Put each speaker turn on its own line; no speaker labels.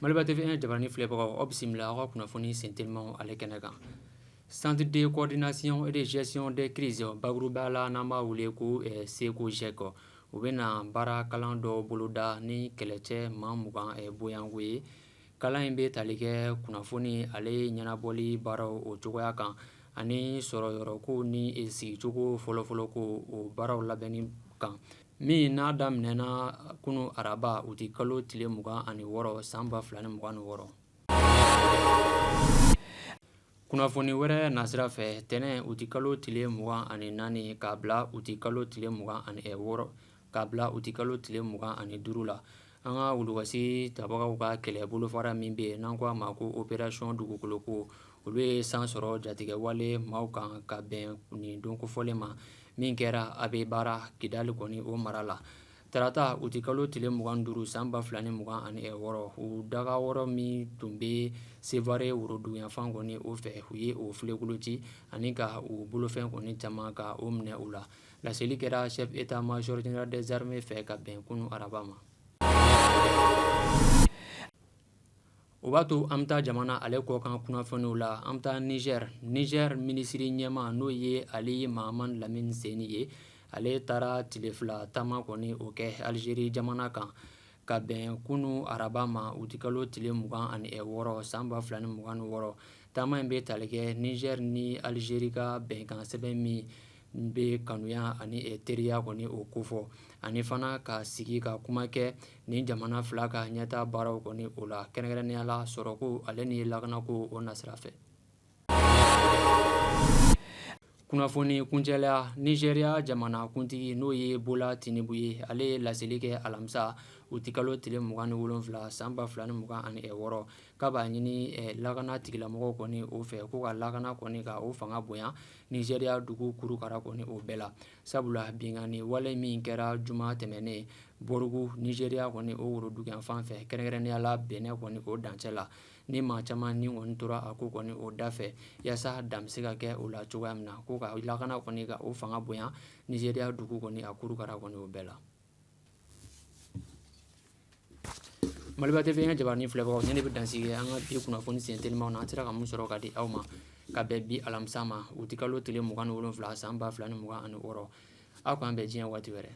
Maliba TV1 jabaranin filɛbagaw aw bisimila aw ka kunnafoni sentelimaw ale kɛnɛ kan Centre de coordination et de gestion des crises bakuruba la n'an b'a wele ko CECOGEC u bɛna baara kalan dɔ boloda ni kɛlɛcɛ maa mugan bonyanko ye Kalan in bɛ tali kɛ kunnafoni ale ɲɛnabɔli baaraw o cogoya kan ani sɔrɔyɔrɔko ni sigicogo fɔlɔfɔlɔ ko o baaraw labɛnni kan min n'a daminɛna kunun araba uti kalo tile mugan ani wɔɔrɔ san ba fila ni mugan ni wɔɔrɔ kunnafoni wɛrɛ nasira fɛ tɛnɛn uti kalo tile mugan ani naani k'a bila uti kalo tile mugan ani wɔɔrɔ k'a bila uti kalo tile mugan ani duuru la an ka wulukɔsi tabagaw ka kɛlɛ bolofara min bɛ yen n'an ko a ma ko opération Dugukoloko olu ye san sɔrɔ jatigɛwale maaw kan ka bɛn nin don kofɔlen ma min kɛra Abeibara Kidali kɔni o mara la tarata uti kalo tile mugan duuru san ba fila ni mugan ani wɔɔrɔ u dagayɔrɔ min tun bɛ Sevare woroduguyanfan kɔni o fɛ u ye o filenkolon ci ani ka u bolofɛn kɔni caman ka o minɛ u la Laseli kɛra chef d'état-major général des armées fɛ ka bɛn kunun araba ma o b'a to an bɛ taa jamana ale kɔkan kunnafoniw la an bɛ taa Nizɛri Nizɛri minisiri ɲɛmaa n'o ye Ali Mahaman Lamine Zeine ye ale taara tile fila taama kɔni o kɛ alizeri jamana kan ka bɛn kunun araba ma uti kalo tile mugan ani wɔɔrɔ san ba fila ni mugan ni wɔɔrɔ taama in bɛ tali kɛ nizɛri ni alizeri ka bɛnkansɛbɛn min bɛ kanuya ani teriya kɔni o kofɔ ani fana ka sigi ka kuma kɛ nin jamana fila ka ɲɛtaa baaraw kɔni o la kɛrɛnkɛrɛnya la sɔrɔko ale ni lakanako o nasira fɛ kunnafoni kuncɛla Nizeriya jamana kuntigi n'o ye Bola Tinubu ye ale ye laseli kɛ alamisa uti kalo tile mugan ni wolonfila san ba fila ni mugan ani wɔɔrɔ k'a b'a ɲini lakana tigilamɔgɔw kɔni o fɛ ko ka lakana kɔni ka o fanga bonya Nizeriya dugu kurukara kɔni o bɛɛ la sabula binkanni wale min kɛra juma tɛmɛnen Bɔrugu Nizeriya kɔni o woroduguyanfan fɛ kɛrɛnkɛrɛnya la Benɛn kɔni o dancɛ la ni maa caman ni kɔni tora a ko kɔni o da fɛ yaasa dan bɛ se ka kɛ o la cogoya min na ko ka lakana kɔni ka o fanga bonya Nizeriya dugu kɔni a kurukara kɔni o bɛɛ la Maliba TV1 jabaranin filɛbagaw nin de bɛ dansigi kɛ an ka bi kunnafoni sentelimaw na an sera ka mun sɔrɔ ka di aw ma ka bɛn bi alamisa ma uti kalo tile mugan ni wolonfila san ba fila ni mugan ani wɔɔrɔ aw k'an bɛn diɲɛ waati wɛrɛ